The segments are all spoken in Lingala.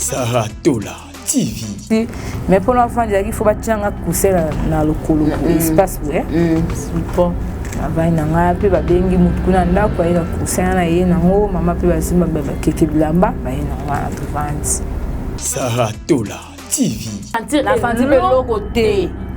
Sarah Tola TV. Mais pour l'enfant, il faut battre un coussin dans le colo, espace, ouais. Support. avai na ngai mpe babengi motu kuna ndako aye na coussin na ye nango mama mpe basimba bakeke bilamba baye na ngai wana tovandi sarah tola tv na fandi mpe eloko te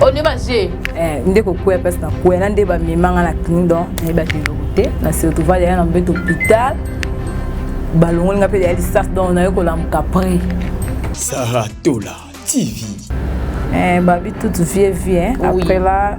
olie baje eh, nde kokwea place na kwea na nde bamemanga na clini don nayebaki eloko te na surtouval yaya na mbeto hôpital balongoli nga mpe ya lisase don naye kolamuka près sarah tola tv eh, babi toute vie vie hein? oui. après là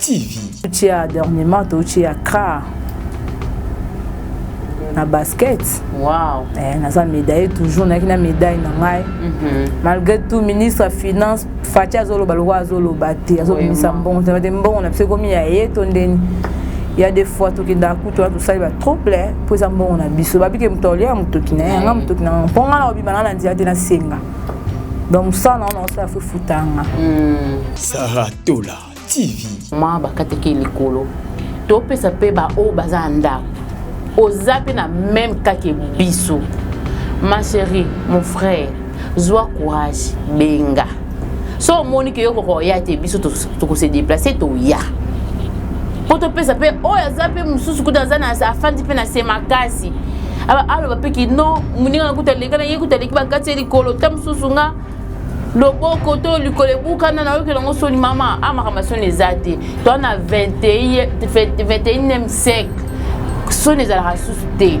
TV. Touche ya dernièrement touche ya Kra na basket. Wow. Eh, naza médaille toujours naki na médaille na ngai. Mm -hmm. Malgré tout ministre ya finance Fatshi azoloba lokola azoloba te azobimisa mbongo te te mbongo na biso ekomi ya ye to ndeni. Il y a des fois tokendaka kutu wana tosali ba trouble eh, mpo eza mbongo na biso babike moto aolia motoki na ye yanga motoki na mpo ngai na kobima ngai na nzela te nasenga donc mosala na ngo na kosala fo efutanga hmm. saratola TV. Ma bakateki likolo topesa mpe baoyo baza na ndako oza mpe na meme kake biso ma chérie mon frère zwa courage benga so omoni ke yo kokoya te biso tokose déplace toya mpo topesa mpe oyo aza mpe mosusu kuta aza na afandi mpe na se makasi aloba mpe kino moninga na kuta aleka na ye kuta aleki bakati ye likolo ta mosusu nga loboko to likolo ebukana nayokela yango soni mama a ah, makambo ya soni eza te to na 21e siècle soni ezalaka susu te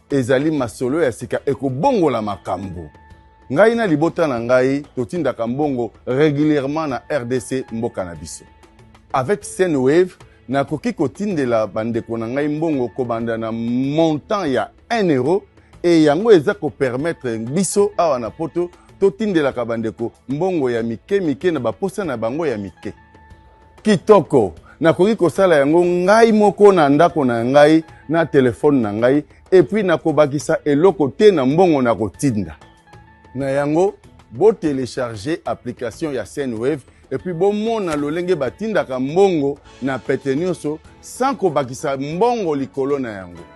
Ezali masolo ya sika ekobongola makambo. Ngai na libota na ngai totindaka mbongo regulièrement na rdc mboka na biso. Avec Sendwave, nakoki kotindela bandeko na ngai mbongo kobanda na montant ya 1 euro e yango eza kopermettre biso awa na poto totindelaka bandeko mbongo ya mike mike na baposa na bango ya mike. Kitoko. Nakoki kosala yango ngai moko na ndako na ngai na telefone na ngai epuis nakobakisa eloko te na mbongo na kotinda. Na yango, botelecharge application ya Sendwave epuis bomona lolenge batindaka mbongo na pete nyonso sans kobakisa mbongo likolo na yango.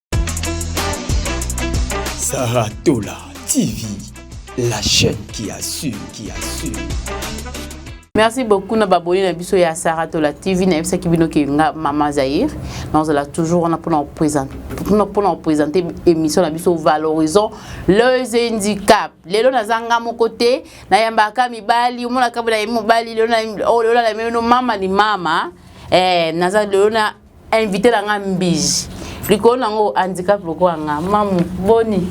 Sarah Tola TV, la chaîne qui assume, qui assume. merci beaucoup na baboni na biso ya sara tola tv nayebisaki bino ke nga mama zaire nazala toujours wana mpona kopresente émission na biso valorisant les handicap lelo naza nga moko te nayambaka mibali omonaka bolayemi mobali lelo oh, nalemeno mama ni mama eh, naza lelo na invité na nga mbiji likolo na ngo handicap lokola nga mamu boni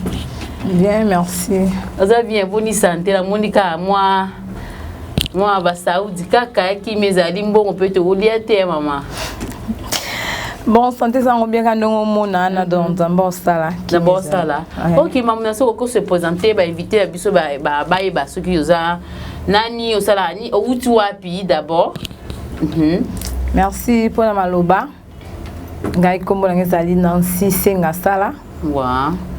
bien merci oza bien boni sante namoni kaka mwa mwa basaudi kaka yakimi ezali mbongo mpe tokolia te mama bon santé sango bien ka ndenge omona na don nzambe osala na bosala ok mamu na soki okoki se présente bainvité ya biso bayeba soki oza nani osalaka ni owuti wapi d'abord Mhm. merci mpo na maloba ngai nkombo nanga ezali nancy senga sala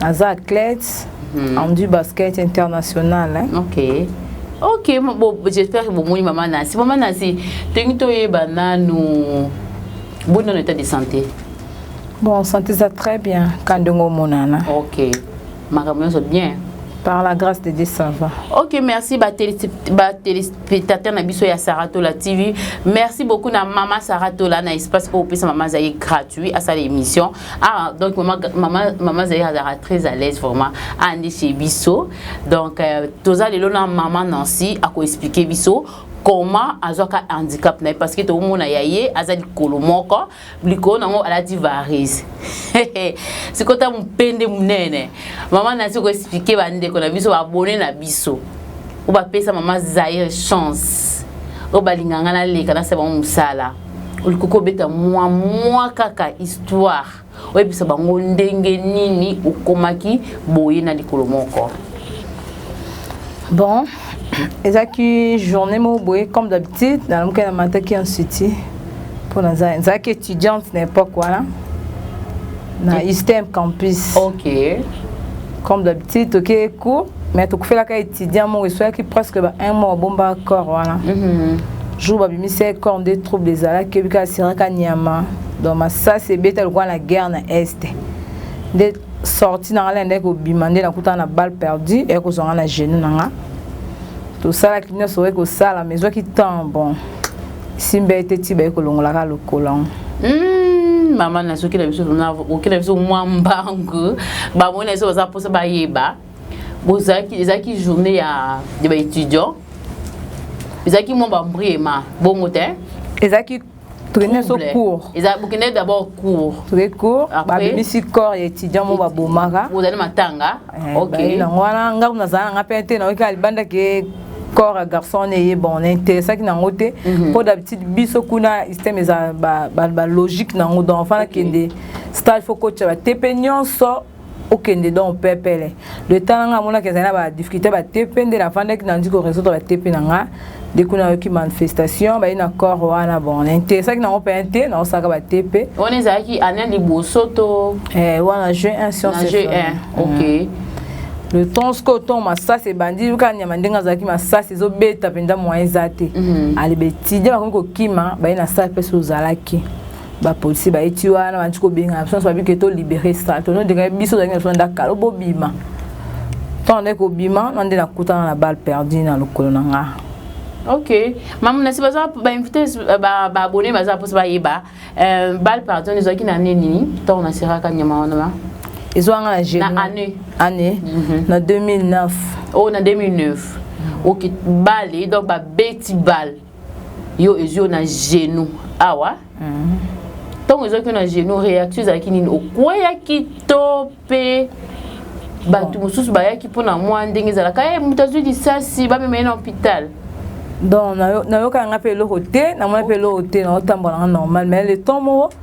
naza athlète mhm. en du basket international hein. okay. ok j'espère que bomoni mama nancy mama nancy tolingi toyeba nanu boni nano état de santé bon santé eza très bien kandenge omonana okay. makambo nyonso bien Par la grâce de Dieu, ça va. Ok, merci, ba téléspectateurs na biso ya Saratola TV. Merci beaucoup na Mama Saratola na espace au pesa Mama Zaye gratuit à sa émission. Ah, donc Mama Mama Mama Zaye a très à l'aise vraiment. Andi chez biso. Donc euh, toza lelo na Mama Nancy a ko expliquer biso comment azwaka handicap na ye parce que tokomona ya ye aza likolo moko likolo na yango alati varise sikota mopende monene mama nasi koexplike bandeko na biso babone na biso oyo bapesa mama zaire chance oyo balinga ngai naleka nasa bango mosala olingi kobeta mwa mwa kaka histoire oyebisa bango ndenge nini okomaki boye na likolo moko bon ezalaki journée moko boye comme d'habitude nalamuki na mataki ya nsuti mpo nazalaki étudiante na époque wana na istem campus ok comme d'habitude tokei cours mais tokufelaka étudiant moko esoyaki presque ba un mois obombaka corps wana mm -hmm. jour babimisaki corps nde trouble ezalaki obika asiraka nyama donc masasi ebeta lokola na guerre na est nde sortie nanga lende kobima nde nakutana na balle perdue eye kozwa nga na genou nanga tosalaki nyonso oye kosala mais ezwaki temps bon simba ete ti baye kolongolaka lokolo yango hmm, mama nazoki na biso oki na biso mwa mbangu bamoni na biso baza mposa bayeba bozalaki ezalaki journée ya baétudiant ezalaki mwa bambriema bongo te ezalaki tokende so cours eza bokende d'abord cours toke cours babimisi corps ya étudiant mo babomaka ozali matanga eh, ok nango wana nga kuna nazala nanga mpe te nayoki alibanda ke corps ya garçon wana eye bon na interessaki nango te mhm. mpo d'habitude biso kuna système eza balogique nango donc fana kende stage fo kotya batepe nyonso okende donc pepele le temps nanga amonaki ezali na ba difficulté ba tepe nde nafandaki nandi ko résoudre ba tepe na nga nde kuna ayoki manifestation baye na corps wana bon na interesaki nango mpe te naosalaka ba tepe wana ezalaki année liboso to eh, wana jeu 1 science jeu 1 ok mm. le temps sikoyo ntongo masasi ebandi yoka nyama ndenge azalaki masasi ezobeta mpenza moyen eza te mhm. alebetidi bakomi kokima baye na sale mpe so ozalaki bapolisi bayeti wana bandi kobengana biso nyonso babiki to libere sal tono dekai biso ozalaki na biso na ndako kala bobima ntango nde kobima na nde nakutana na balle perdu na lokolo na nga ok mamu nasi baza bainvite baabone baza mposa bayeba euh, balle perdu wana ezwaki na ane nini ntango naseraka nyama wana ba ezwanga na gene na année année mhm. na 2009 oh na 2009 ok balle donc babeti balle yo ezwi yo na genou awa ntango ezwaki yo na genou réaction ezalaki nini okweyaki to mpe bato mosusu bayaki mpo na mwa ndenge ezalaka ye eh, moto azwi lisasi bamema ye na hôpital donc nayokaka nga mpe eloko te namona mpe eloko te naotambola nga normal mais le temps moko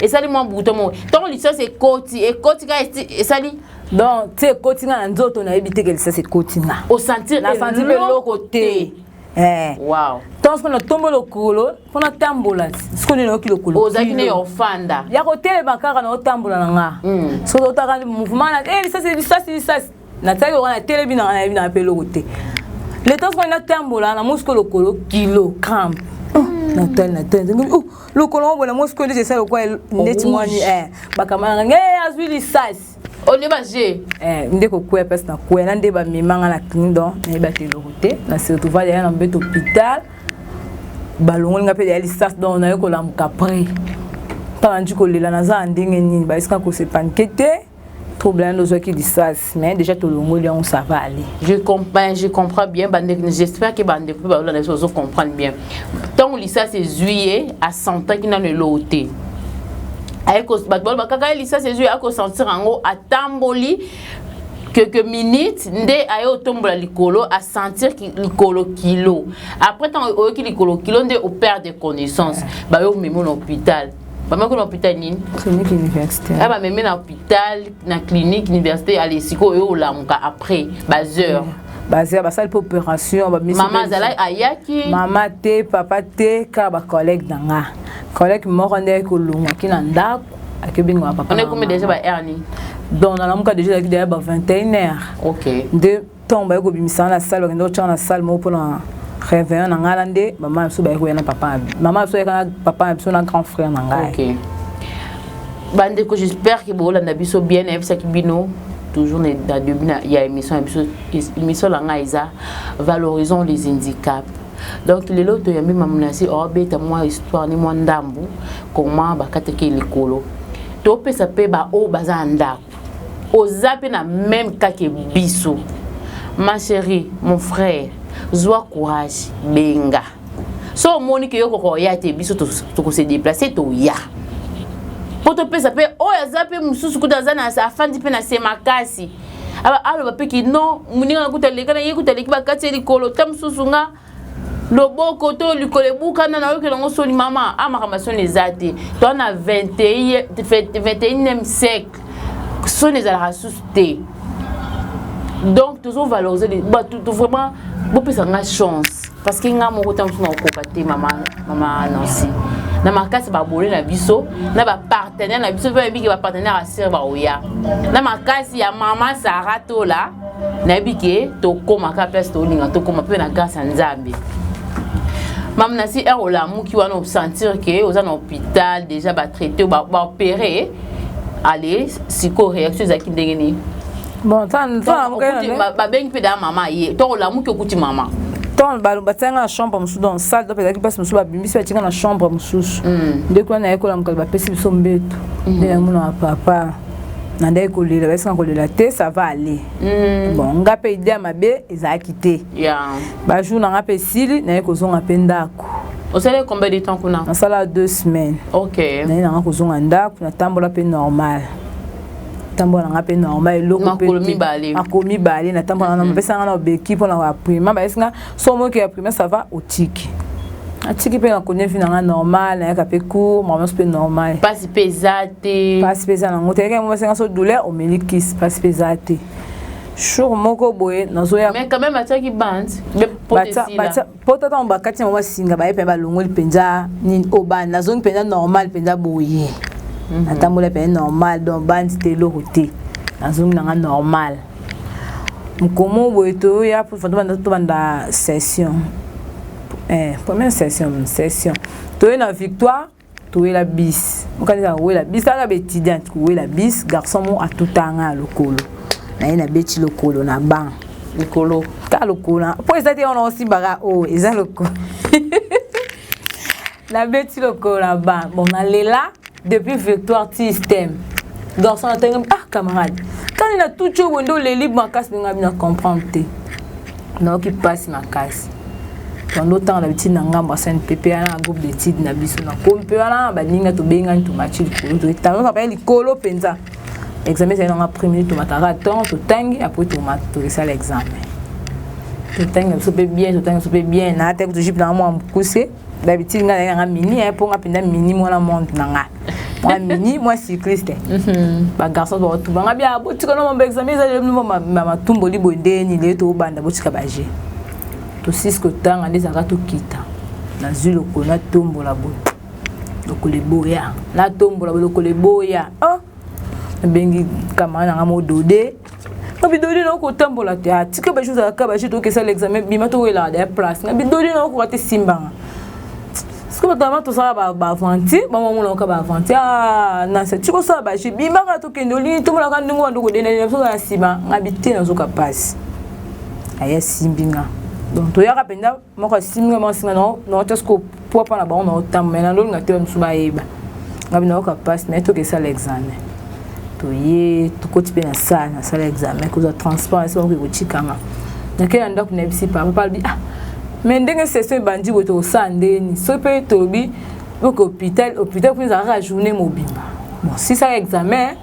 esali mwa buto moko ntango lisasi ekoti ekoti ka esali donc ti ekoti nga na nzoto nayebi te ke lisasi ekoti nga osentir nasanti mpe eloko te eh. wow ntango soki natombo lokolo mpo natambola soki nini nayoki lokolo ozalaki ne ofanda ya kotelema kaka naotambola na nga hmm. soki otaka mouvement na eh, lisasi lisasi lisasi natalaki lokola natelemi nanga nayebi nanga mpe eloko te leta soki natambola na mosiko lokolo kilogramme hmm. natali natali oh, lokolo yango bona mosiko ndeti esali lokola ndeti mwani eh, bakama nanga nge eh, azwi lisasi olie baje eh, nde kokwea mpasi na kwea na nde bamemanga na clini don nayebaki eloko te na surtouval yaya na mbeto hôpital balongoli nga mpe ya lisasi don naye kolamuka près mpana nji kolela naza na ndenge nini bayesika kosepanike te trouble nano ozwaki lisasi mais déjà tolongoli yango ça va aller je comprends je comprends bien bandeko j'espère que bandeko mpe balolanda biso bazo comprendre bien ntango lisasi ezwi ye asentaki nano eloo te bato baloba kaka ye lisasi ezwi akosentir yango atamboli quelques minutes nde aye otombola likolo a sentir likolo kilo après ntango oyoki likolo kilo nde operde connaissance bayo omema na hôpital bamaki na hôpital nini clinique universitaire ya bamemi na hôpital na clinique université ale sikoyo oyo olamuka après bas heures baza basali mpe opération mama azalaki ayaki mama te papa te kaka bacollègue na nga collègue moko nde ayaki kolongwaki na ndako akebinga papa on ekomi déjà ba heure nini donc nalamuka déjà ezalaki deja ba 21 heure okay. nde ntango baye kobimisa nga na salle bakenda kotya nga na salle moko mpo na réveillon na ngai na nde mama na biso baye koya na papa na biso mama na biso ayaka na papa na biso na grand frère na ngai okay. bandeko j'espère ke bokolanda biso bien nayebisaki bino toujours na début ya émission ya biso émission na ngai eza valorisons les handicaps donc lelo toyambi mamonasi obeta oh, mwa histoire ni mwa ndambu koma bakataki likolo topesa mpe baoyo baza na ndako oza pe na meme cas que biso ma cherie mon frère zwa courage benga so omoni ke yo koko oya te biso tokose deplace toya mpo topesa mpe oyo aza mpe mosusu kuta aza na afandi mpe na se makasi aloba mpe kino moninga na kuta aleka na ye kuta aleki bakati ye likolo ta mosusu nga loboko to likolo ebukana nayokela yango soni mama a ah, makambo ya soni eza te to na 21e siècle soni ezalaka susu te donc tozo valoriser bato to vraiment bopesa ngai chance parce que ngai moko ntango mosusu nakokoka te mama mama nancy na makasi babole na biso na bapartenaire na biso mpe bayebiki bapartenaire ya sere baoya na makasi ya mama sara tola nayebi ke tokoma ka place tolinga tokoma mpe na grâce ya nzambe mame na si heure olamuki wana osentir ke oza na hôpital déjà batraite baopere ale sikoyo réaction ezalaki ndenge nini babengi mpe daa mama ye to olamuki okuti mama temps batianga na chambre mosusu donc sale donc ezalaki mpasi mosusu babimbisi batinga na chambre mosusu mm. nde kuna nayekola mokali bapesi biso mbeto mm. nde namonaka papa nandaki kolela basi na kolela te ça va aller mm. bon nga mpe idea mabe ezalaki te yeah. bajour na nga mpe esili naye kozonga mpe ndako osalaki combien de temps kuna nasala deux semaines ok naye nanga kozonga ndako natambola mpe normal natambola nanga mpe normal eloko mpe makolo mibale natambola nanga napesanga na obeki mpo na koaprima bayesi nga so omoki ya primaire ça va otiki atiki mpe na konia vi na ngai normal nayaka mpe cour mamans mpe normal mpasi mpe eza te mpasi mpe eza nango te yekaki mobasenga so douleur omeli kisi mpasi mpe eza te jour moko boye nazoya mais quand même atiaki bande po tata mo bakati yango basinga baye mpenza balongoli mpenza nini o bande nazongi mpenza normal mpenza boye mhm. natambola mpenza normal donc bande te eloko te nazongi nanga normal mokomo boye toya tobanda session eh, première session session toye na victoire towela bis okanisa kowela bis aka baétudiante kowela bis garçon mo atutaa ngai ya lokolo naye nabeti lokolo na ban likolo ta lokolo mpo eza te wana osimbaka o oh, eza lokolo nabeti lokola ba bon nalela depuis victoire ti stem garçon atenge ah camarade kani na tuti oyo bonde oleli makasi ndenge abi na comprendre te nayoki mpasi makasi bando otanga na bitide na ngambo ya sani pepe wana na groupe d'étude na biso na komi mpe wana baninga tobengani tomati likolo toetanga kaka likolo mpenza examen ezali nanga premier tomataka temps totangi apres tokesala examen totangi na biso mpe bien totangi biso mpe bien naataki tojipe nanga mwa mokuse d'habitude nga nanga mini eh, po nga mpenza mini mwana monde na nga mwa mini mwa cycliste mhm. bagarçon bakotuba nga bia botika no mambo examen ezali matumboli boye nde nile tobanda botika baje tosisi kotanga nde ezalaka tokita nazwi lokolo natombola boye lokolo eboya natombola boye lokolo eboya oh! nabengi kamara nanga modode na bidoli na okotambola te atika baje ozalaka baje tokesala examen bima towelaka da place na bidoli na okoka te simbanga soki batama tosala baaventure bango bamonaka baaventure ah, nasa ti kosala baje bimaka tokende olini tomonaka ndenge wanda okodendalela biso na nsima nga bite nazoka mpasi aya simbinga donc toyaka mpenza moko asimbi nga moko asimba nao just kopua mpo na bango naotamba mai nalolinga te mosusu bayeba ngai binayoka mpasi mai toke esala examen toye tokoti mpe na sale nasala examen kozwa transport esi bakoki kotikanga nakei na ndako nayebisi papa papa alobi ah mai ndenge session ebandi boye tokosala ndeni soki mpe tolobi oke hôpital hôpital mpe ezalaka journée mobimba bon sisaka examen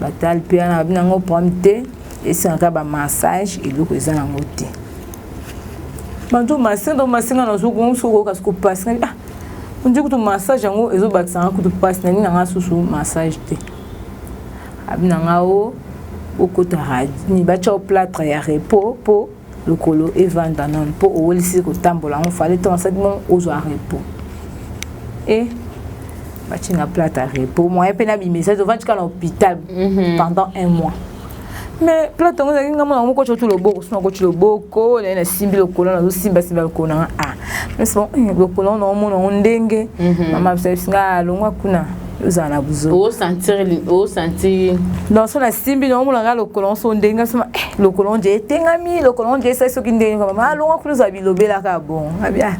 batali mpe wana babi nango problème te esengaka bamassage eloko eza nango te bantu masinga to masinga nazokokoka soko mpasi nabi ah ondi kutu massage yango ezobakisa nga kutu mpasi nabi nanga susu massage te abi nanga o okota batya o platre ya repos mpo lokolo evanda nanu mpo owelisi kotambola yango fale ntango asali mo ozwa repos e eh, bati na plate ya repos moyen mpe nabimisa ete ovandi kaka na hôpital mhm. pendant un mois mais plate yango ezalaki ngai mona yango koti otu loboko sona koti loboko naye nasimbi lokolo nazosimbasimba lokolo nanga a ah, mais bon eh, lokolo yango naomona yango ndenge mhm. mama bisabisinga alongwa ah, kuna ozala na buzosanti non so nasimbi naomona nga lokolo nso ndenge soma eh, lokolo nje etengami lokolo nje esali soki ndenge mama alonga kuna ozala bilobelaka bon abia ah,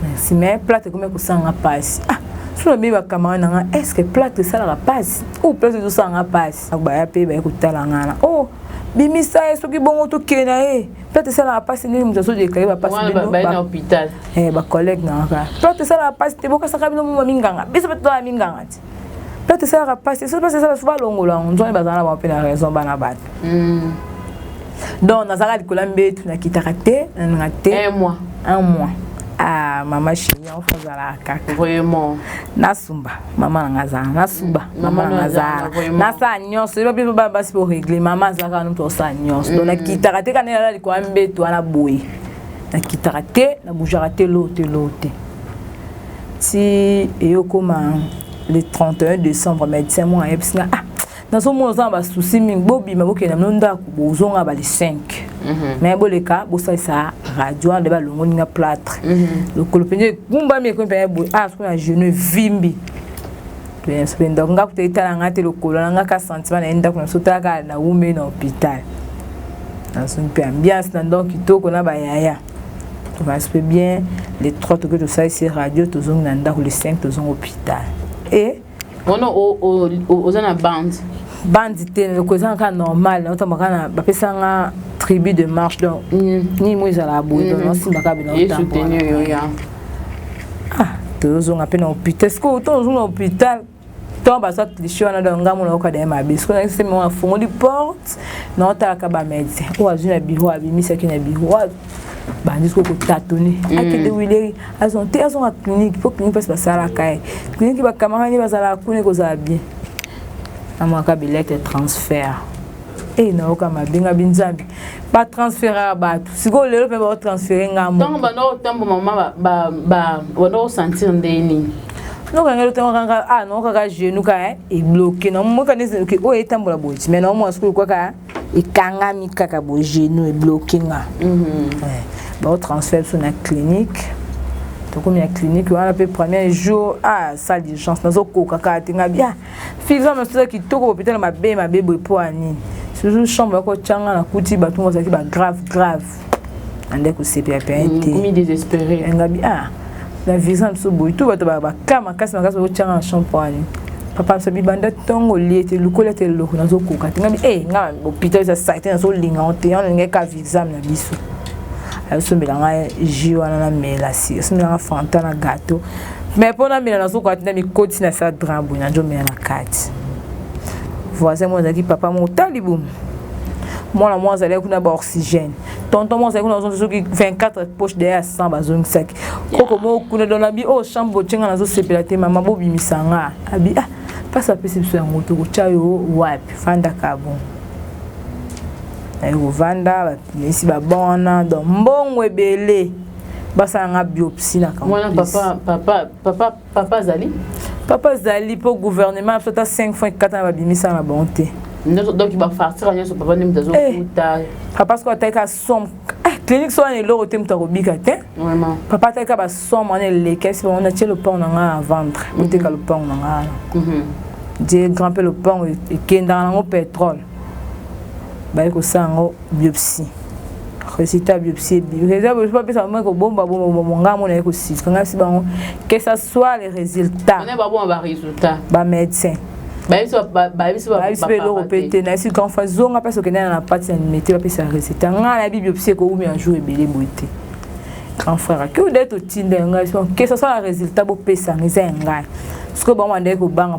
merci mais plate ekomi kosanga mpasi ah so nabeyi bacamarade na nga est ce que plate esalaka mpasi ou plate ezosala nga mpasi baya mpe baye kotala ngana o oh, bimisa ye soki bongo tokende na ye peut esalaka mpasi ndenge moto azodeklare bapasi bacollègue eh, na kaka peut esalaka mpasi te bokasaka bino moma minganga biso mpe tozala minganga te peut esalaka mpasi soki mpasi esala so balongola yango nzwani bazala na bango mpe na raison bana bato hmm. donc nazalaka likolo ya mbetu nakitaka te nananga te un mois un mois ah mama chini yango fo ozalaka kaka vraiment nasumba mama na nga azala nasumba mm, mama na nga azala nasala nyonso yeba biso bana basi po regle mama azalaka nutu osala nyonso don mm. nakitaka te kana elala likwa mbetu wana boye nakitaka te nabujaka te loo te loo te ti eyokoma le 31 décembre médecin moko ayebisi nga ah nazomona oza na basusi mingi bobima bokenda mino ndako bozonga bale 5 mhm. me boleka bosalisa radio nde balongoli nga platre mhm. lokolo mpenza egumbami ekomi mpenza boye a ah, soki na genou evimbi mpe ndako nga kuta etala nga te lokolo na nga ka sentiment na ye ndako na biso talaka na wume na hôpital nazongi mpe ambiance na ndako kitoko na bayaya tokanisi mpe bien le 3 toke tosalisi radio tozongi na ndako le 5 tozongi hôpital e wana oza na bande bande te loko eza kaka normal naotamba kaka na bapesa nga tribu de marche donc mm. nini mo ezala boye donc mm. naosimba kaka bino ah, tozozonga mpe na hôpital sikoyo oto ozonga na hôpital to bazwa cliche wana donc ngai mona oyoka daye mabe sikoyo nayaki sema afungoli porte naotalaka bamédecin oyo azwi na biro abimisaki na biro bandi siko kotatone mm. akende wileri azon te azonga clinique mpo clinique mpasi basalaka ye clinique bakamarani bazalaka kuna ekozala bien amwaka bilete transfert e eh, nayoka mabe nga binzambi batransferaka bato sikoyo lelo mpe baotransfere nga ntango banda kotambo mama banda kosentir nde nini nokanga lotango kanga a ah, nokaka genou ka ebloke eh, na mokana ezeloke oyo oh, etambola boye ti mai na omona sikoyo kwaka ekangami kaka bo genou ebloke nga mm -hmm. eh, baotransfere biso na clinique tokomi na clinique wana mpe premier jour ah salle d'urgence nazokoka kaka te nga bia fiza mosusu kitoko bopitala mabe mabe boye mpo ya nini susu chambre yako tyanga nakuti bato bazalaki bagrave grave ande kosepela mpe aye te komi désespéré ngabi ah na visa na biso boye to bato baka makasi makasi bakotyanga na champ poani papa biso bibanda ntongo olie te lokola te eloko nazokoka te ngabi e nga hôpital eza site nazolinga ngo te yango ngai ka vexame na biso ayosombela ngai jus wana namela si asombela ngai fanta na gateau mais mpo namela nazokoka te na mikotisi na sa dran boye nanjomela na kati voisin moko azalaki papa moko talibumu mwana moko azalaki kuna ba oxygène tonton moko azalaki kuna azongi soki 24 poche deya ya 100 bazongisaki koko moko kuna don abi oyo oh, chambre botye nga nazosepela te mama bobimisa nga abi ah mpasi apesi biso yango te kotya yo wapi fandaka bon naye kovanda bapimisi babon wana don mbongo ebele basala nga biopsi na kamwana papa papa papa papa azali papa azali mpo gouvernement biso ata 5 fois ekata na babimisa na bango te donc bafartira nyonso papa nde moto azokuta eh, papa soki ataki ka somme eh, clinique so wana eloko te moto akobika te papa ataki ka basomme wana eleki ayebisi bango natie lopango na ngai na ventre boteka mhm. lopango na ngai wana je mhm. grand mpe lopango ekendaka nango pétrole baye kosala yango biopsie résultat ya biopsie ebibi résultat biopsie bapesa bango ekobomba bomba monga mona ye kosukangasi bango que ça soit le résultat bamédecin bayebisi mpe eloko mpe te nayebisi kanfa zonga mpasi okendana na pati na mete bapesa résultat ngai nayebi biopsie ekoumi ya jour ebele boye te grand frère ake oda ete otinda ya ngai que ça soit na résultat bopesanga eza ya ngai sikoyo bango bandaki kobanga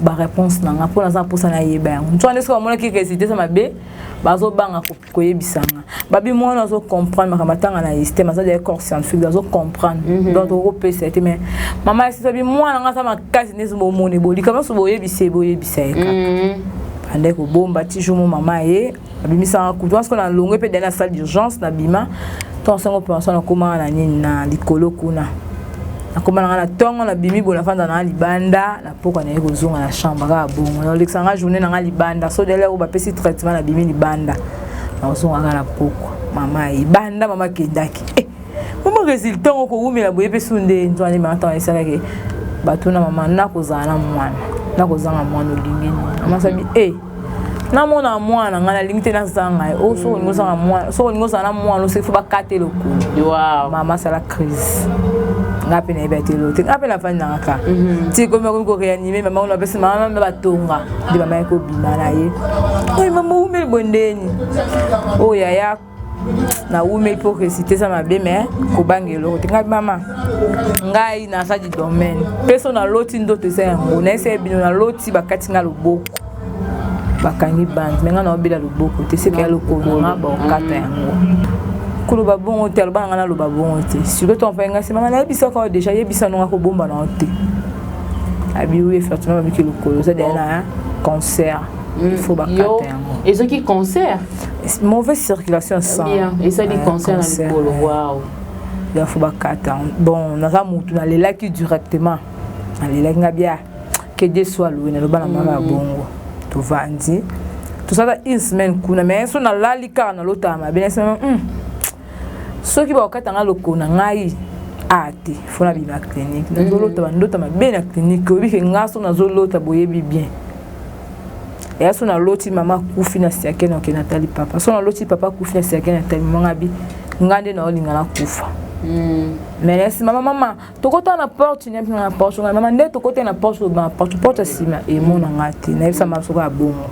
ba réponse na nga mpo naza na mposa nayeba yango moto wana nde soki bamonaki résultat eza mabe bazobanga koyebisa nga babi mwana azo comprendre makambo atanga na système aza deja corps scientifique azo comprendre mhm. donc okopesa ye te mais mama ya sisabi mwana nga aza makasi nde bomoni bolikama so boyebisa ye boyebisa ye kaka mhm. bandai kobomba ti jour mo mama ye abimisaka kutu wana sikoyo na longwe mpe dani na salle d'urgence na bima ntango sango pension nakomaka na nini na likolo kuna nakoma nanga na ntongo nabimi boye nafanda nanga libanda na mpokwa naye kozonga na chambre kaka bongo naolekisa nga journée nanga libanda so dele oyo bapesi traitement nabimi libanda nakozonga kaka na mpokwa mama libanda mama akendaki eh, mama résultat yango kowumela boye mpe su nde nzwa nde mama ntango esalaki bato na mama nakozala na mwana nakozanga mwana olingi nini mama sabi e eh, namona mwana ngai nalingi te nazanga ye o soki olingi ozanga mwana soki olingi ozala na mwana osi fo bakata elokulu mama asala crise ngai mpe nayebi ate elo te ngai mpe nafandi nanga ka mhm. ti komi akomi koreanime mama ona apesi mama mama batonga nde mama ye kobima na ye oyo mama oumeli bondeni oyo yaya nawumi hypocrisie te eza mabe me kobanga eloko te ngai mama ngai naza di domaine mpe so naloti ndoto eza yango nayesa ye bino naloti bakati ngai loboko bakangi bande me ngai naobela loboko te seke ya lokolo nga bakokata yango koloba bongo te aloba na ngai naloba bongo te sikoyo to mpe ngai se mama nayebisaka yo deja yebisa nonga kobomba na yo te abiwi efertuna babiki lokolo oza deya na concert il faut bakata yango ezoki concert mauvaise circulation sans bien esali concert na likolo waouh ya faut bakata bon naza mutu nalelaki directement nalelaki nga bia que Dieu soit loué naloba na mama ya mm. bongo tovandi tosala une semaine kuna mais so nalali kaka nalotaka mabe na semaine hmm. soki bakokata nga lokolo na ngai a te fo nabima clinique nazolota mm. bandota mabe na clinique oyebi ke nga so nazolota boyebi bien eya so naloti mama akufi na siake na okende atali papa so naloti papa akufi na siake na atali mama ngabi nga nde naolinga nakufa hmm. mais na nsima mama mama tokota na porte nyampi na porte ngai mama nde tokota na porte na porte porte ya nsima emona ngai te nayebisa mama soko ya bongo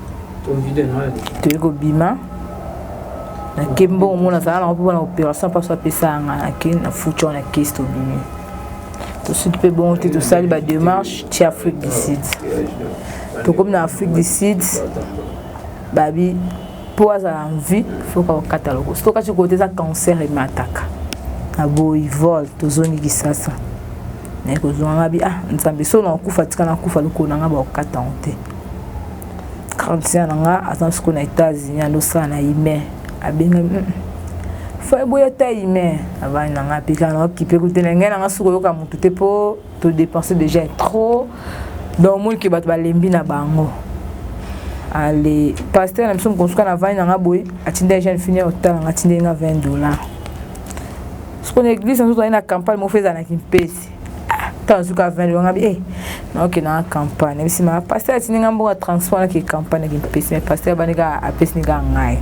toyei kobima nakembi bongo mona azala nango mpo na opération mpaso apesa ngai nake na future na kesi tobimi tosudi mpe bongo te tosali bademarche ti afrique du sud tokomi na afrique du sud babi mpo azala envie foka kokata loko soki okati kote eza cancer emataka na boyi vol tozongi kisasa naye kozonga ngabi ah nzambe so nakokufa tika nakufa lokolo na ngai bakokata yango te grande sœur na nga aza siko na États-Unis alosala na email abengami mm, fo eboya ta email abani na nga pika na okipe kutela ngai na nga siko yoka mutu te po to dépenser déjà trop donc moi ke bato balembi na bango ale pasteur na biso mokonsuka na vani na nga boye atindaki jeune fini ya otala nga atindeli nga 20 dollar soko na église na nzoto aye na campagne moko fo ezala na kimpesi makasi tala zuka 20 liwa ngabi eh naoke na campagne bisi ma pasteur atindi nga mboka transport naki campagne naki mpesi mais pasteur abandi kaka apesi ni kaka ngai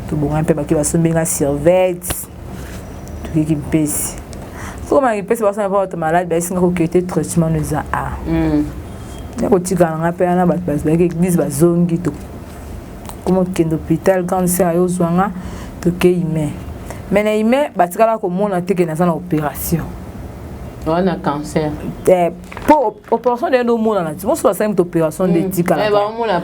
tobongani mpe baki basombi nga surveille tokiki mpesi sokomana kipesi basana mpo bato maladi bayesi nga kokete traitement no eza a ya kotikala nga mpe wana bato bazalaki eglise bazongi to koma okende hôpital grande sœur ayo ozwa nga tokei ime me na ime batikala komona te ke naza na opération wana cancer eh, po opération nde omonana ti mosusu basali moto opération nde etikala baomona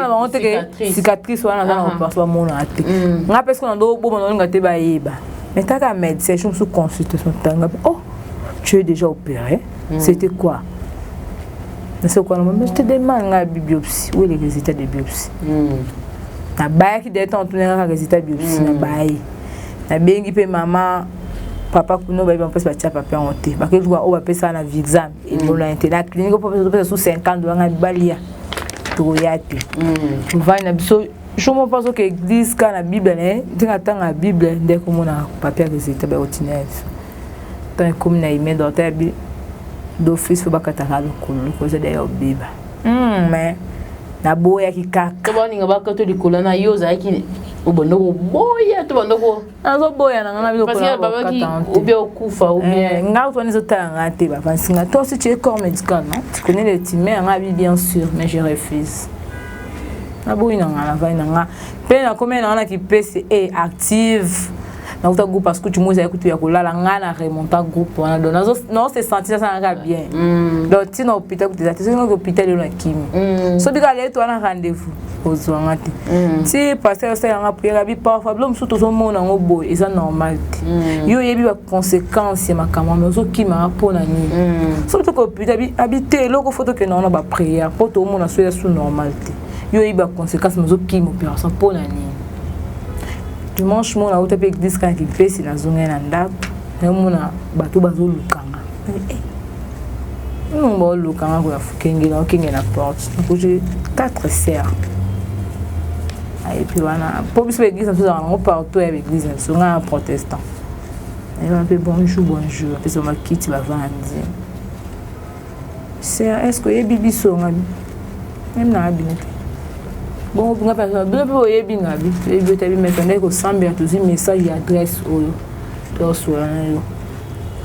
bango te ke cicatrice wana naza na opération bamonana te ngai mpe soki na ndo oboma naolinga te bayeba mais taka médecin soki mosusu consultation tanga oh tu es déjà opéré mm. c'était quoi nase kwana mama je te demande nga biopsie où est le résultat de biopsie mm. nabayaki dete antunaka kaka résultat biopsie mm. nabayi nabengi mpe mama papa kuna bayebi mpasi batya papa yango te bakoki kuba oyo bapesaka na vixam elonani te na clinique opesa su 50 dola ngai balia tokoya te mvani na biso jour moko mposo ke église kaka na bible na ye ndenge atanga bible nde komonaka papa ya résultat bakotinela biso Tant ekomi na email docteur ya bi d'office ba kata ka lokolo lokolo za d'ailleurs beba. Hmm mais na boya ki kaka. Ba ninga ba kato likolo na yo za ki obanda koboya to banda ko azoboya na ngai nabiloobia okufa eh, ngai ozwani ezotala ngai te bavansi ngai toi si tu es corps médical non tu connais le time ya ngai abi bien sûr mais je refuse naboyi na ngai navai na ngai mpe nakomi na ngai na kipesi e active na uta groupe parce que tu moza kutu ya kolala nga na remonta groupe wana donc nazo non se sentir ça nga bien mm. donc tina hôpital kutu zati soki hôpital lelo na kimi mm. so bika leto wana rendez-vous ozwa nga te mm. ti pasteur osala nga prière bi parfois bilo mosusu tozomona yango boye eza normal te mm. yo oyebi baconséquence ya makambo wana ozokimaka mpo na nini mm. soki toka hôpital abi te eloko fo tokenda wana baprière mpo toomona so ya su normal te yo oyebi baconséquence mozokima opération mpo na nini dimanche mona auta mpe eglise kaka kipesi nazongai na ndako namona bato bazolukanga nongo baolukanga koya fokengela okenge na porte nakuti quatre serre epuis wana mpo biso baeglise na biso ezalaka nango partout ya baeglise na biso ngai na protestant ayeba mpe bonjour bonjour apesa makiti bavandi Sœur, est-ce que oyebi biso ngabi? Même na abino te. Bon, nga pa nga bebe oyebi ngabi. Oyebi otabi mais tanda ko sambela tozi message ya adresse oyo. To sola na yo.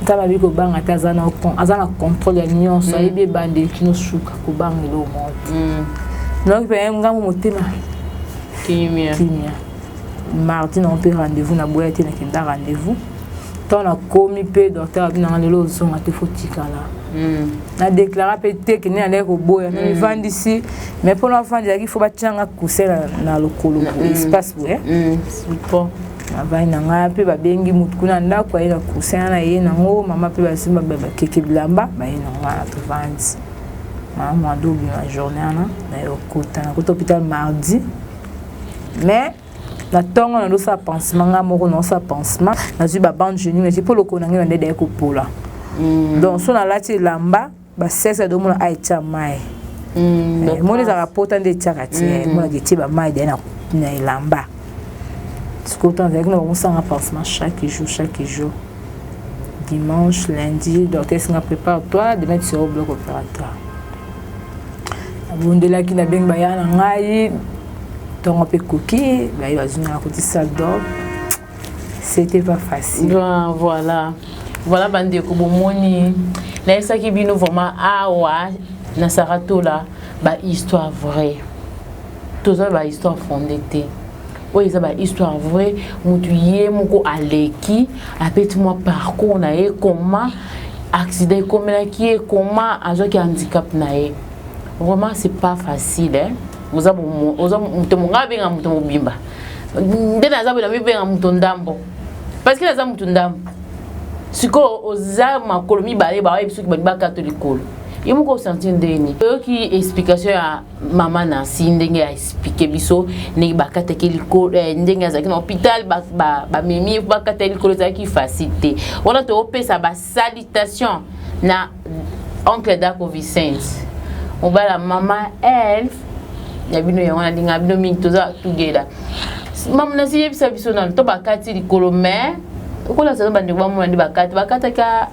Tala biko banga ta zana kon azana contrôle ya nyonso mm. ayebi bande kino suka ko banga lo mo. Mm. Donc pe ngambo motema. Kimia. Kimia. Mardi na on peut rendez-vous na boya te na kenda rendez-vous. ntango nakomi mpe docteur abi nanga lelo ozonga te fo tikala hmm. nadeklara mpe te kende nandaki koboya hmm. namivandisi mais mpo navandi ezalaki fo batyanga kuse na lokolo hmm. espace boye navandi na ngai mpe babengi motu kuna ndako aye na kuse na ye nango mama mpe basimba bakeke bilamba baye na ngai na tovandi mama mwando obima journée wana naye okota nakota hôpital mardi mais na ntongo na ndosala pansement ngai moko naosala pansement nazwi babande genie ngai mpo lokolo na ngai na nde edai kopola mm. donc so nalati elamba basese adomona aetya mai mm, eh, moni ezalaka pota nde etyaka te mm. monaka etie bamai dai na elamba sikoyo ntango azalaki na bakosanga pansement chaque jour chaque jour dimanche lundi docteur esinga prépare toi demain tu seras au bloc opératoire nabondelaki nabengi baya na ngai ntongo mpe koki baye bazwi na nakotisa dor c'était pas facile ben, voilà voilà bandeko bomoni nayesaki bino vraiment awa na saratola bahistoire vraie toza bahistoire fonde te oyo eza bahistoire vraie motu ye moko aleki apeti mwa parcours na ye koma accident ekomelaki ye koma azwaki handicap na ye vraiment c'est pas facile hein? oza moto monga abenga moto mobimba nde naza boye namibenga moto ndambo parce que naza moto ndambo sikoyo oza makolo mibale bayebi soki balingi bakata likolo ye moko osanti ndeni oyoki explication ya mama nansi ndenge aexplike biso ndenge bakataki likolo eh, ndenge azalaki na hôpital bamemi ba, ba bakata likolo ezalaki facile te wana toopesa basalitation na oncle dako vicente mobala mama elf ya bino yango nalinga bino mingi toza tugeda mama nasi yebisa biso nano to bakati likolo mais okola sazo bandeko bamona nde bakati bakataka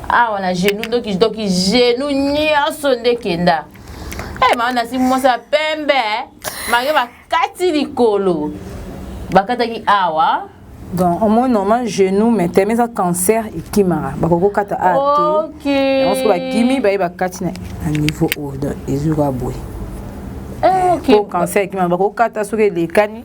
awa na genou ndoki ndoki genou nyonso nde kenda Eh, mama nasi mwasi ya pembe eh. mario bakati likolo bakataki awa donc omoi normal genou mais teme eza cancer ekimaka bakoki kokata a te yango soki bakimi baye bakati na niveau oyo donc ezoka boye po cancer ekimaka bakoki kokata soki elekani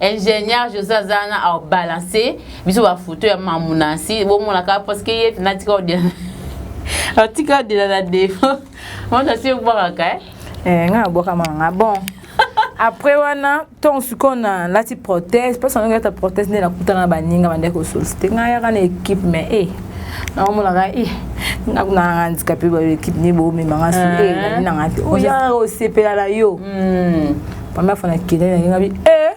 ingénieur josé aza wana abalance biso bafoto ya mamu nansi bomonaka parce que ye natika odela atika odela na defo moto asi obwakaka eh? eh, ngai nabwaka manga bon après wana ntongo sikoyo nalati prothèse mposa ndenge ata prothèse nde nakutana na baninga bandaki kosolsite ngai yaka na équipe mais e eh, naomonaka e eh, nakunanga handikape baekipe nde bomemanga so e eh, ah. nani nanga te oyaka osepela na yo hmm. mama afana kende na ngai eh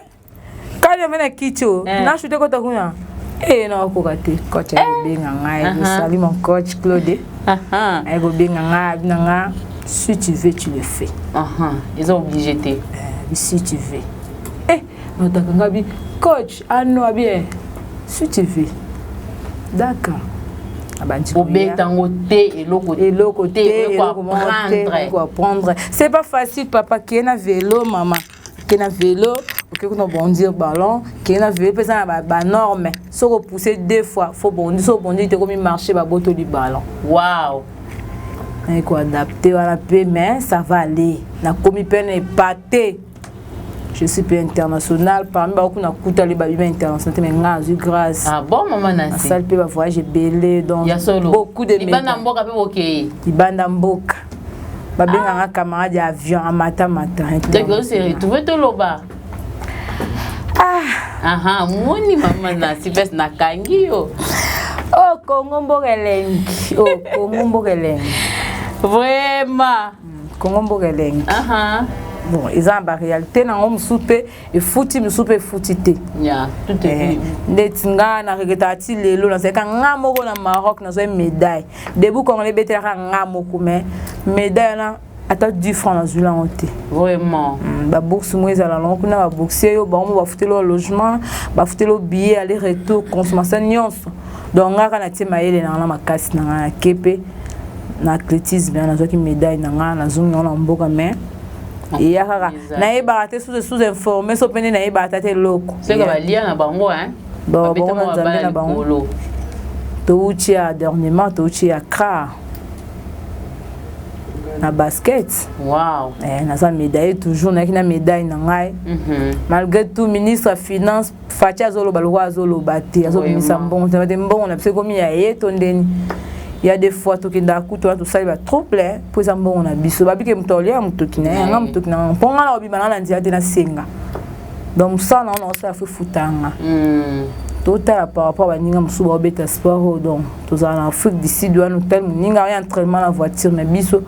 kali omena kicho eh. na shute kota kuna eh na koka te coach eh. akobenga ngai uh-huh. salut mon coach Claude uh-huh. akobenga ngai abina ngai si tu veux tu le fais uh-huh. ils ont obligé te eh, si tu veux eh notaka ngai coach Ah non, ah bien. Si tu veux. D'accord. obeta yango te eloko eloko te eloko apprendre c'est pas facile papa keye na velo mama keye na velo oke kuna bondir ballon keye na velo mpe eza na banorme soki opousse deux fois fo bondi soki obondi te ekomi marché babotoli ballon wow naye koadapte wana mpe mais ça va aller nakomi mpe na epate je suis peu international parmi baoyo kuna kuta le babima international te mais ngai azwi grâce ah bon mama nasi asali mpe bavoyage ebele donc ya solo beaucoup de libanda mboka mpe bokei libanda mboka babenganga ah. camarade ya avion amata mata donc ose retrouve toloba ah. aha moni mama nasi pese nakangi yo o oh, kongo mboka elengi o oh, kongo mboka elengi vraiment Congo mboka elengi. Aha. Bon, ils ont ba réalité na ngo musu pe efuti musu pe efuti te. Yeah, tout est eh, bien. Ndeti nga na regeta ti lelo na zeka nga moko na Maroc na zoi médaille. Debout congolais betela ka nga moko mais médaille na ata 10 francs na zula ngo te. Vraiment. Mm, ba bourse mo ezala na kuna ba boursier yo ba mo ba futelo logement, ba futelo billet aller retour consommation nyonso. donc nga kaka natie mayele na nga na makasi na nga na kepe na athlétisme wana nazwaki médaille na nga nazongi yango na mboka mais eya kaka nayebaka te sous sous informe so mpe nde nayebaka ta te eloko seka balia na bango bango na nzambe na bango touti ya dernièrement touti ya cra na basket wow. eh, naza médaille toujours nayaki na médaille na ngai mm -hmm. malgré tout ministre ya finance Fatshi azoloba lokola azoloba te azobimisa mbongo te bate mbongo na biso ekomi ya ye to ndeni ya de fois tokendaka kutu wana tosali ba trop plein mpo eza mbongo na biso babike moto aolia ya motoki na ye yanga motoki na yango mpo ngai na kobima nanga na nzela te nasenga donc mosala na yango nakosala fo efutanga hmm. totala par rapport baninga mosusu baobeta sport oyo donc tozala na afrique du sud wana otel moninga oyo entraînement na voiture na biso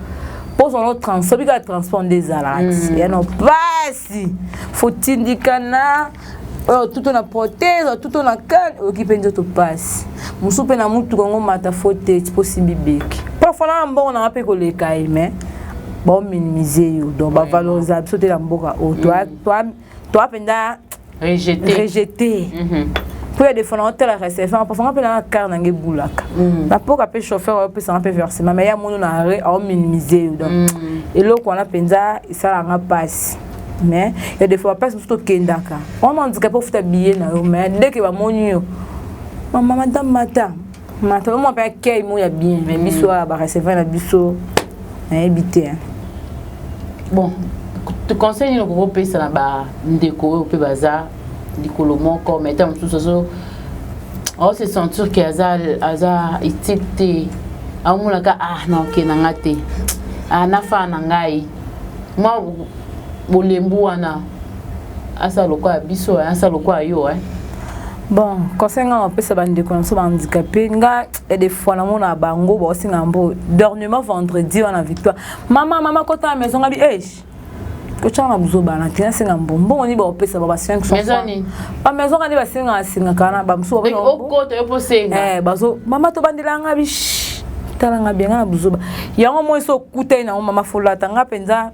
mpo ozala transport bika transport nde ezalaka hmm. ya no mpasi fotindikana oyo tuto na protège oyo tuto na kane oyoki mpe nzoto mpasi mosusu mpe na motuka yango mata fo te tiposi bibeki parfois na mbongo nanga mpe koleka ye mais baominimize yo donc bavalorisaka biso te na mboka oyo mm. toa mpenza rejete mpo ya defana otala recevant parfois nga mpe nanga kar nanga ebulaka mm. napoka mpe chauffeur ayopesanga mpe versement mais ya mono na arret aominimize yo donc mm. eloko wana mpenza esalaka mpasi mais ya des fois place mosusu tokendaka wana handicapé ofuta billet na yo mais dès que bamoni yo mama madame mata mata omwa mpe akei mo ya bien mais biso mm. awa barecevoir na biso nayebi te bon conseil nini okoki opesa na bandeko oyo mpe baza likolo moko mais ntango mosusu azo ao se sentir ke aza aza utile te aomonaka ah naokenda nga te ah nafaa na ngai mwa bolembu wana asala lokola biso eh, asala lokola yo eh. bon conseil ngai napesa bandeko na biso bahandikape nga ya de fois namona bango baosenga mbo dornement vendredi wana victoire mama mama kota na maison ngabi age eh, kotyaka na buzoba na ntina asenga mbo mbongo nini baopesa ba ba 500 ba maison kani basengaka sengaka wana bamosusu eh, bazo mama tobandela nga bish tala nga bianga na buzoba yango moi so okutani nango mama folata nga mpenza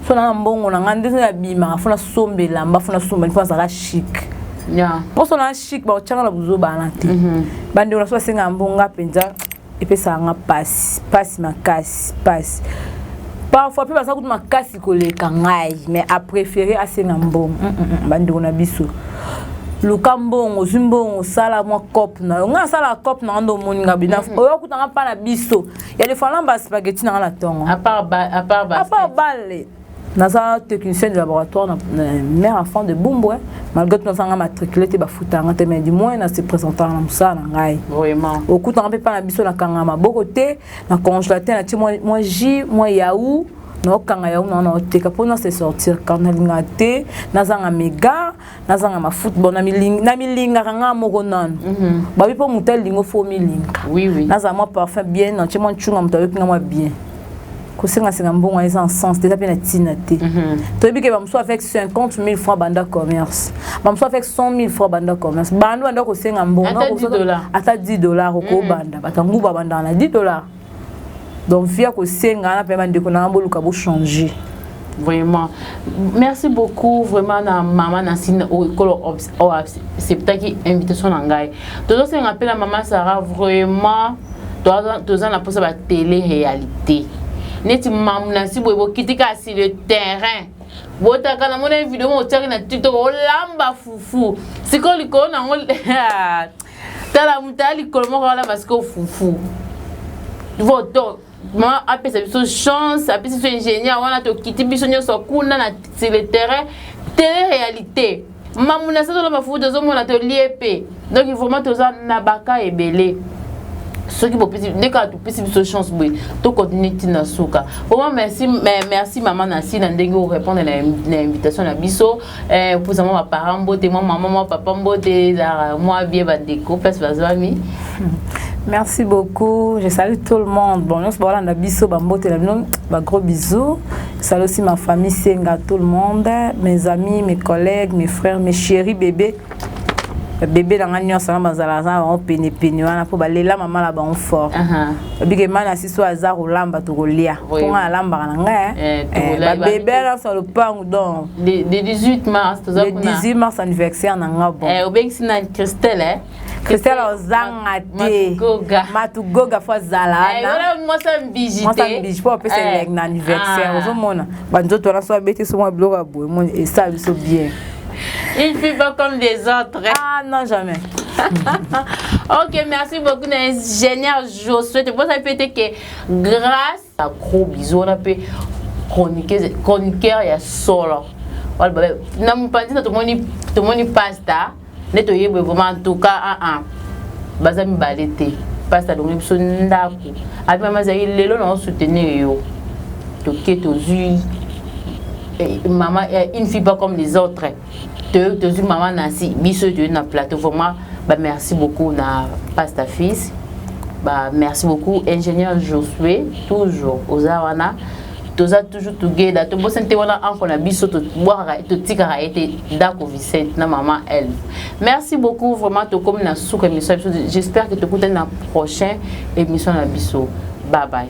so nanga mbongo na nga nde so nabimaka fo nasomba elamba fo nasomba nifo nazalaka chic mposo na chic bakotyanga na buzoba wana te mhm. bandeko na so basengaka mbongo nga mpenza epesaka nga pasi pasi makasi pasi parfois mpe baza kutu makasi koleka ngai mais apréféré asenga mbongo mm, mm, mm, bandeko na biso luka mbongo ozwi mbongo osala mwa cope na yo ngai nasala cope na nga nde omoni nga bina mm-hmm. oyo akuta nga mpa na biso ya lefana baspageti na nga na ntongo apart bale naza technicien de laboratoire na mère enfant de bumbwe malgré tout nazanga matricule te bafutanga te mais du moins na se présentaka na mosala na ngai okutanga mpe mpa na biso nakanga maboko te na congelateur na ti mwa jus mwa yau naokanga yango na naoteka mpo na se sortir car nalingaka te nazanga mega nazanga mafuta bon namilingaka ngaa moko nanu mhm. babi mpo moto alingo fo omilinga nazala mwa parfum bien nantie mwa ncunga moto ayoki nga mwa bien kosengasenga mbongo wana eza en sens te eza mpe na ntina te mhm. toyebi ke bamosusu avec 50 000 francs banda commerce bamosusu avec 100 000 francs banda commerce bando banda kosenga mbongo ata 10 dollar okobanda mhm. bato ya nguba bandaka na 10 dollar donc via kosenga na mpe bandeko na ngai boluka bochanger vraiment merci beaucoup vraiment na mama na sina ekolo acceptaki invitation na ngai tozosenga mpe na mama sara vraiment toza na mposa ba tele réalité neti mamu na nsi boye bokiti kasi le terrain botaka na mona video moko otiaki na tiktok olamba fufu sikoyo likolo nango tala moto aya likolo moko wana masiko fufu voto ma apesa biso chance apesi biso ingénieur wana tokiti biso nyonso kuna na sur le terrain tele réalité mamu na satola mafufu tozomona tolie mpe donc vraiment toza na baka ebele soki bopesi nde kaka topesi biso chance boye tokontinue ntina suka vraiment merci, merci mama nasi na ndenge orépondre na, na invitation na biso eh, opusa mwa baparent mbote mwa mama mwa papa mbote ezalaka mwa bie bandeko place bazwami Merci beaucoup. Je salue tout le monde. Bon, nous voilà na biso ba mbote la bino, ba gros bisous. Je salue aussi ma famille Senga, tout le monde, mes amis, mes collègues, mes frères, mes chéris bébés. bebe na ngai nyonso wana bazalaka na bango penepene wana mpo balela mama na bango fort babike mai na siso aza kolamba tokolia mpo ngai nalambaka na ngai eh, eh, babebe nyonso na lopango donc le 18 mars anniversaire na ngai bon eh, obengisi na christelle christelle ozanga te matugoga fo azala wanamwasambiji mpo apesa elenge na anniversaire ah. ozomona banzoto wana so abeti so mwa biloko ya boye esala biso bien Il fait pas comme des autres. Ah non, jamais. ok, merci beaucoup, ingénieur Josué. Tu peux répéter que grâce à gros bisous, on a pu chroniquer, chroniqueur, il y a solo. Na mupanzi na tomoni tomoni pasta nde toyebwe vraiment en tout cas ah ah baza mibale te pasta alongi biso ndako abi mama azali lelo na osoutenir yo toke tozwi eh, maman eh, une fille pas comme les autres toyoki tozwi mama nansi biso oyo toyei na plateau vraiment bamerci beaucoup na pasta fils bamerci beaucoup ingénieur josue toujours oza wana toza toujours together tobosani te wana anko na biso tobwakaka totikaka ye te ndako vicente na mama elve merci beaucoup vraiment tokomi na suka émission ya biso j'espère que tokutani na prochain émission na biso bye bye